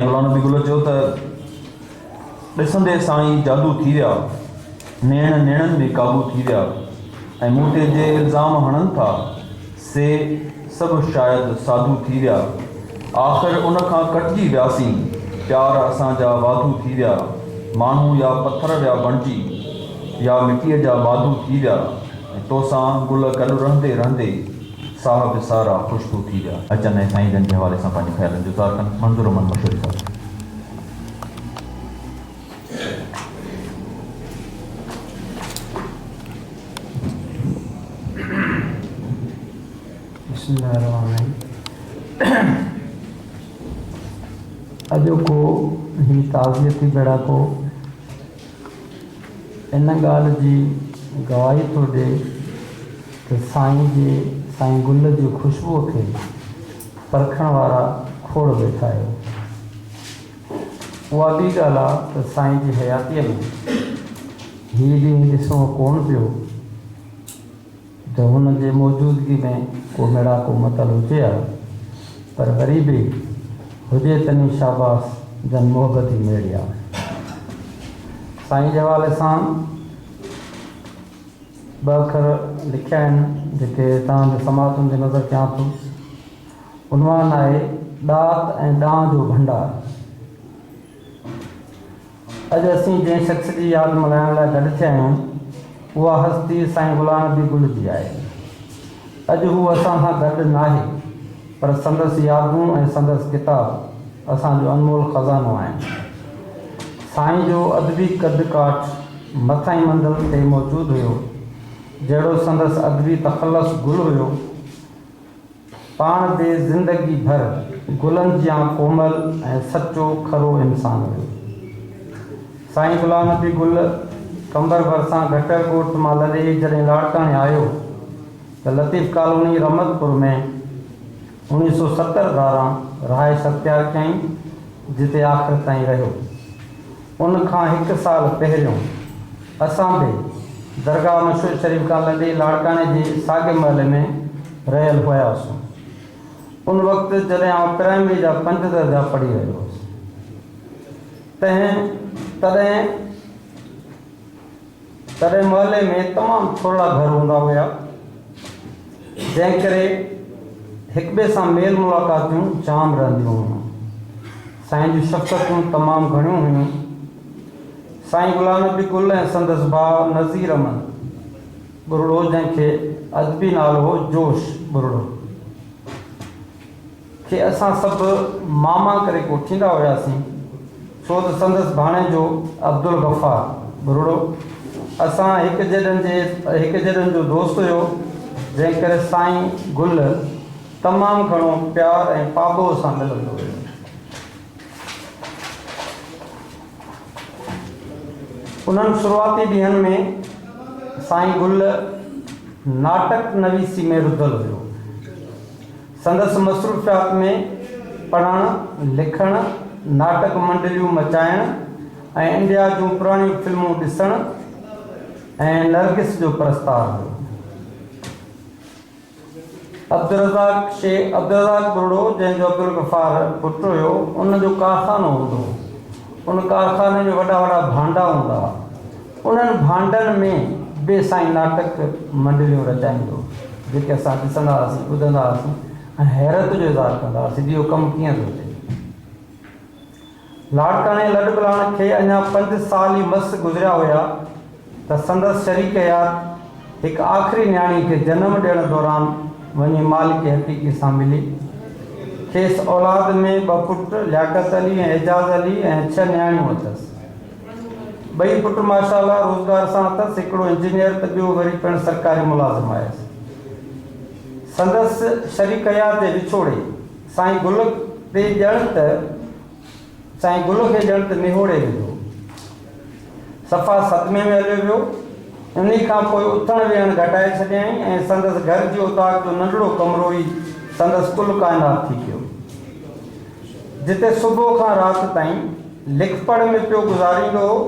غلام نبي گل چيو ته ڏسندي سائين جادو ٿي ويا، نيڻ نيڻن ۾ قابو ٿي ويا ۽ مون تي جي الزام هڻن ٿا سي سڀ شايد ساڌو ٿي ويا، آخر ان کان ڪٽجي وياسين، پيار اسان جا واڌو ٿي ويا، ماڻهو يا پٿر ويا بڻجي يا مٽيء جا ماڌو ٿي ويا ۽ توسان گل گڏ رهندي رهندي. ساهه به سارا خوشبو ٿي ويا. اچن ۽ سائين جن جي حوالي سان پنهنجي خيالن جو اظهار ڪن. منظور احمد مشوري صاحب. بسم الله الرحمن الرحيم اڄوڪو هي تعزيتي ٻيڙاڪو. ان ڳالهه جي گواهي ٿو ڏي ته سائين جي سائين گل جي خوشبوء کي پرکڻ وارا کوڙ ويٺا آهيو. اها ٻي ڳالهه آ ته سائين جي حياتيء ۾ هي ڏينهن ڏسڻو ڪونه پيو. ته هن جي موجودگي ۾ ڪو ميڙاڪو متل هجي ها، پر وري به هجي تني شاباس جن محبتي ميڙيا سائين جي حوالي سان ٻه اکر لکيا آهن، جيڪي توهان جي سماعتن جي نظر ڪيان ٿو. عنوان آهي، ڏات ۽ ڏانء جو ڀنڊار. اڄ اسين جنهن شخص جي ياد ملهائڻ لاء گڏ ٿيا آهيون، اها هستي سائين غلام نبي گل جي آهي. اڄ هو اسان سان گڏ ناهي، پر سندس يادون ۽ سندس ڪتاب اسان جو انمول خزانو آهن. سائين جو ادبي قد ڪاٺ مٿئين منزل تي موجود هيو، جهڙو سندس ادبي تخلص گل هيو، پاڻ تي زندگي ڀر گلن جيان ڪومل ۽ سچو کرو انسان هيو. سائين غلام نبي گل قمبر ڀرسان گهٽر ڳوٺ مان لڏي جڏهن لاڙڪاڻي آيو ته لطيف ڪالوني رحمتپور ۾ اوڻيهه سؤ ستر ڌاران رهائش اختيار ڪيائين جتي آخر تائين رهيو. ان کان هڪ سال پهريون اسان به درگاهه مشهور شريف کان لڏي لاڙڪاڻي جي ساڳئي محلي ۾ رهيل هياسون. ان وقت جڏهن آئون پرائمري جا پنج درجا پڙهي رهيو هوس تنهن تڏهن تڏهن محلي ۾ تمام ٿورڙا گهر هوندا هيا، جنهن ڪري هڪٻئي سان ميل ملاقاتيون جام رهنديون هيون. سائين جون شخصتون تمام گهڻيون هيون. سائين غلام نبي گل ۽ سندس ڀاء نذير امن ٻرڙو جنهن کي ادبي نالو هو جوش ٻرڙو. کي اسان سڀ ماما ڪري ڪوٺيندا هياسين، ڇو ته سندس ڀاڻيجو عبدالغفار، ٻرڙو، اسان هڪ جيڏن جي هڪ جيڏن جو دوست هيو، جنهن ڪري سائين گل تمام گهڻو پيار ۽ پاٻوهه سان ملندو هيو. انهن شروعاتي ڏينهن ۾ سائين گل ناٽڪ نويسي ۾ رڌل هيو. سندس مصروفيات ۾ پڙهڻ، لکڻ، ناٽڪ منڊليون مچائڻ ۽ انڊيا جون پراڻيون فلمون ڏسڻ ۽ نرگس جو پرستار هو. عبدالرزاق شي، عبدالرزاق ٻرڙو، جنهن جو عبدالغفار پٽ هيو، ان جو ڪارخانو هوندو هو. ان ڪارخاني ۾ وڏا وڏا ڀانڊا هوندا هئا. انهن ڀانڊن ۾ به سائين ناٽڪ منڊليون رچائيندو جيڪي اسان ڏسندا هئاسين، ٻڌندا هئاسين ۽ حيرت جو اظهار ڪندا هئاسين جو اهو ڪم ڪيئن ٿو ٿئي. لاڙڪاڻي لڏپلاڻ کي اڃا پنج سال ئي مس گذريا هيا ته سندس شريڪ حيات هڪ آخري نياڻي کي جنم ڏيڻ دوران وڃي مالڪ حقيقي سان ملي. کيس اولاد ۾ ٻه پٽ لياقت علي ۽ اعجاز علي ۽ ڇهه نياڻيون اٿس. ٻئي پٽ ماشاء الله روزگار سان اٿس، هڪڙو انجنيئر ته ٻيو وري پڻ سرڪاري ملازم آهيس. سندس شريڪ حيات جي وڇوڙي سائين گل تي ڄڻ ته سائين گل کي ڄڻ ته نهوڙي وڌو. صفا صدمي ۾ هليو ويو. انهي کان پوء اٿڻ ويهڻ گهٽائي ڇڏيائين ۽ سندس گهر جي اوطاق جو ننڍڙو ڪمرو ئي سندس ڪل ڪائنات ٿي پيو. جتي صبح کان رات تائين لک پڙهه ۾ پيو گذاريندو هو.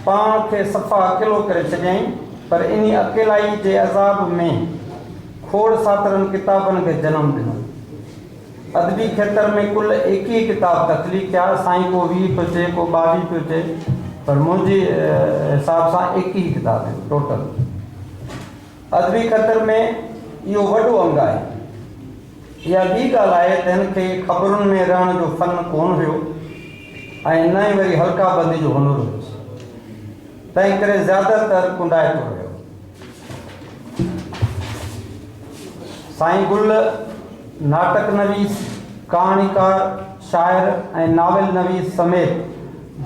پاڻ کي صفا اڪيلو ڪري ڇڏيائين، پر انهي اڪيلائي جي عذاب ۾ کوڙ ساترن ڪتابن کي جنم ڏنو. ادبي کيتر ۾ ڪل ايڪيهه ڪتاب تخليق ٿيا، سائين ڪو ويهه پيو چئي، ڪو ٻاويهه پيو چئي، پر منهنجي حساب سان ايڪيهه ڪتاب آهن ٽوٽل. ادبي کتر ۾ اهو وڏو انگ آهي. اها ٻي ڳالهه آهي ته هن کي خبرن ۾ رهڻ جو فن ڪونه هيو ۽ نه ئي وري حلقه بندي جو هنر هيس، تنهنڪري زياده تر ڪنڊائتو رهيو. سائين گل ناٽڪ نويس، ڪهاڻيڪار، شاعر ۽ ناول نويس سميت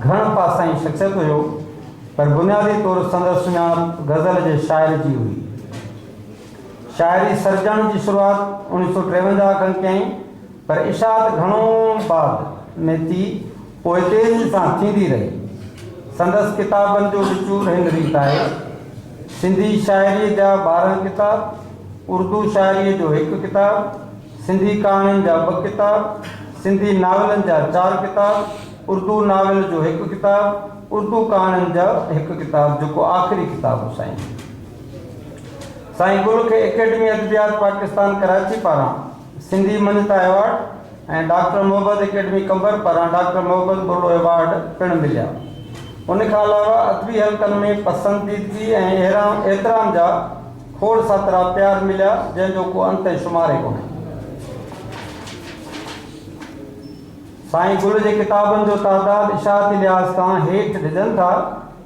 گهڻ پاسائين شخصيت هيو، پر بنيادي طور سندس سڃاڻپ غزل جي شاعر جي هئي. شاعري سرجڻ جي شروعات اوڻيھ سؤ ٽيونجاھ کن ڪيائين پر اشاعت گهڻو بعد ۾ ٿي پوء تيزي سان ٿيندي رهي. سندس ڪتابن جو وچور هن ريت آهي، سنڌي شاعريء جا ٻارهن ڪتاب، اردو شاعريء جو هڪ ڪتاب، سنڌي ڪهاڻين جا ٻه ڪتاب، سنڌي ناولن جا چار ڪتاب، اردو ناول جو هڪ ڪتاب، اردو ڪهاڻين جا هڪ ڪتاب جيڪو آخري ڪتاب هو سائين. سائين گل کي اڪيڊمي ادبيات پاڪستان ڪراچي پاران سنڌي مڃتا award ۽ doctor Mohabbat academy Qambar پاران ڊاڪٽر محبت ٻرڙو ايوارڊ پڻ مليا. ان کان علاوه ادبي حلقن ۾ پسنديدگي ۽ احترام جا کوڙ ساترا پيار مليا جنهن جو ڪو انت ۽ شمار ئي ڪونهي. سائين گل جي ڪتابن جو تعداد اشاعتي لحاظ کان هيٺ ڊڄن ٿا.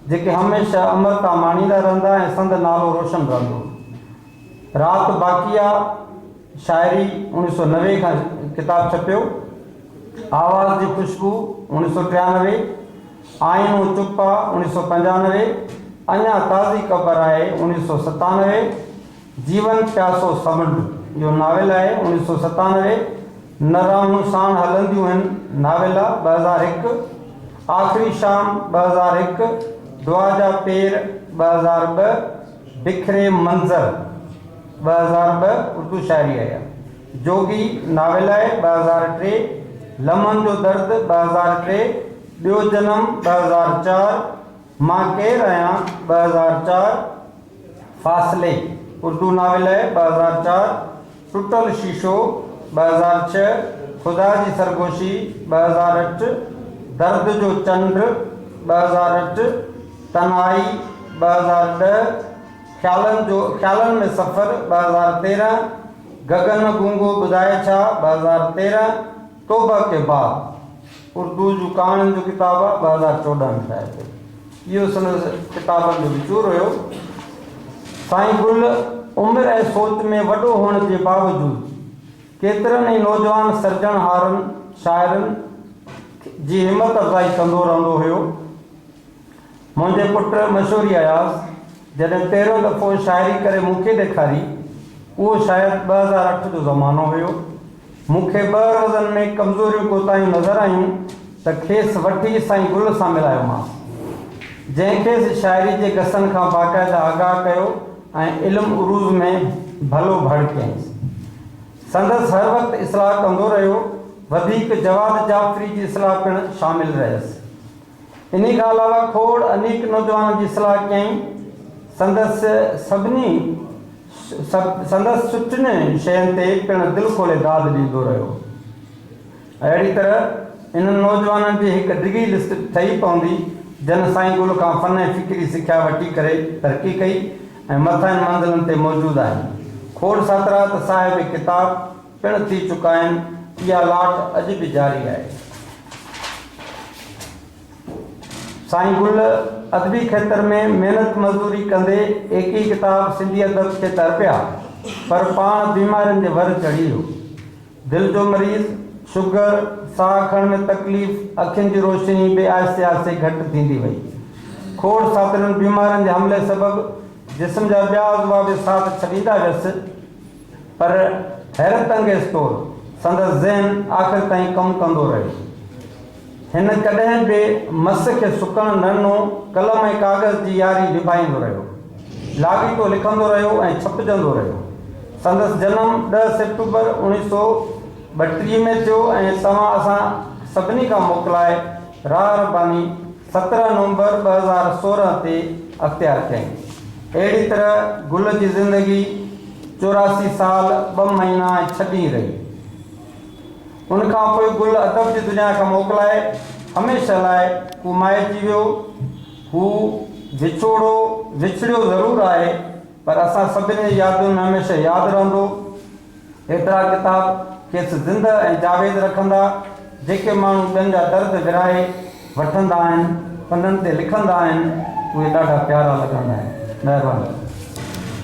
جيڪي هميشه امرتا ماڻيندا رهندا ۽ سندن نالو روشن رهندو. رات باقي آ، شاعري، اوڻيھ سؤ نوي کان ڪتاب ڇپيو، آواز جي خوشبو، اوڻيھ سؤ ٽيانوي، آئينو چپ آ، اوڻيھ سؤ پنجانوي، اڃا تازي قبر آهي، اوڻيھ سؤ ستانوي، جيون پياسو سمنڊ اهو ناول آهي، اوڻيھ سؤ ستانوي، نه راهون ساڻ هلنديون هن، ناويلا، ٻه هزار هڪ، آخري شام، ٻه هزار هڪ، دعا جا پير، ٻه هزار ٻه، بکري منظر، ٻه هزار ٻه، اردو شاعري ايا جوڳي ناول آهي، ٻه هزار ٽي، لمحن جو درد، ٻه هزار ٽي، ٻيو جنم، ٻه هزار چار، مان ڪير آهيان، ٻه هزار چار، فاصلي، اردو ناول ٻه هزار چار، ٽٽل شيشو ٻه هزار ڇهه، خدا جي سرگوشي ٻه هزار اٺ، درد جو چنڊ ٻه هزار اٺ، تنهائي ٻه هزار ڏهه، خيالن جو خيالن ۾ سفر ٻه هزار تيرهن، گگن گونگو ٻڌائي ڇا ٻه هزار تيرهن، توبه ڪي بعد، اردو جون ڪهاڻين جو ڪتاب آهي، ٻه هزار چوڏهن ۾ شايع ٿيو. اهو سندس ڪتابن جو وچور هيو. سائين گل عمر ۽ سوچ ۾ وڏو هئڻ جي باوجود ڪيترن ئي نوجوان سرجڻهارن، شاعرن، جي همت افزائي ڪندو رهندو هيو. منهنجي پٽ مشوري اياز جڏهن پهريون دفعو شاعري ڪري مون کي ڏيکاري، اهو شايد ٻه هزار اٺ جو زمانو هيو. مون کي ٻه روزن ۾ ڪمزوريون ڪوتاهيون نظر آيون ته کيس وٺي سائين گل سان ملايومانس، جنهن کيس شاعري جي گسن کان باقاعده آگاهه ڪيو ۽ علم عروض ۾ ڀلو ڀڙ ڪيائينس. سندس هر وقت اصلاح ڪندو رهيو، وڌيڪ جواد جعفري جي اصلاح پڻ شامل رهيس. انهي کان علاوه کوڙ انيڪ نوجوانن جي صلاح ڪيائين. سندس سڀني سندس سٺين شين تي پڻ دل کولي داد ڏيندو رهيو. اهڙي طرح انهن نوجوانن جي هڪ ڊگهي لسٽ ٺهي پوندي جن سائين گل کان فن ۽ فڪري سکيا وٺي ڪري ترقي ڪئي ۽ مٿاهين منزلن تي موجود آهن. کوڙ ساترا ته صاحب ڪتاب. پڻ ٿي چڪا آهن، اها لاٽ اڄ به جاري آهي. سائين گل ادبي کيتر ۾ محنت مزدوري ڪندي ايڪيهه ڪتاب سنڌي ادب کي تر پيا، پر پاڻ بيمارين جي ور چڙهي ويو. دل جو مريض، شگر، ساهه کڻڻ ۾ تڪليف، اکين جي روشني به آهستي آهستي گهٽ ٿيندي وئي. کوڙ ساٿرين بيمارين جي حملي سبب جسم جا ٻيا عضوا به ساٿ ڇڏيندا ويس. پر حيرت انگيز طور سندس ذهن آخر تائين ڪم ڪندو رهيو. هن ڪڏهن به مس کي سڪڻ نه ڏنو، قلم ۽ ڪاغذ جي ياري نڀائيندو رهيو. لاڳيتو لکندو رهيو ۽ ڇپجندو رهيو. سندس جنم ڏهه سيپٽمبر اوڻيهه سؤ ٻٽيهه ۾ ٿيو ۽ توهان اسان سڀني کان موڪلائي راهه رباني، سترهن نومبر ٻه هزار سورهن تي اختيار ڪيائين. اهڙي طرح گل جي زندگي چوراسي سال ٻه مهينا ۽ ڇهه ڏينهن رهي. ان کان پوء گل ادب جي دنيا کان موڪلائي هميشه لاء ڪومائي ٿي ويو. هو وڇوڙو وڇڙيو ضرور آهي پر اسان سڀني جي يادن ۾ هميشه ياد رهندو. ايترا ڪتاب کيس زنده ۽ جاويد رکندا، جيڪي ماڻهو ٻين جا درد ورهائي وٺندا آهن، پنن تي لکندا آهن، اهي ڏاڍا پيارا لڳندا آهن. مهرباني.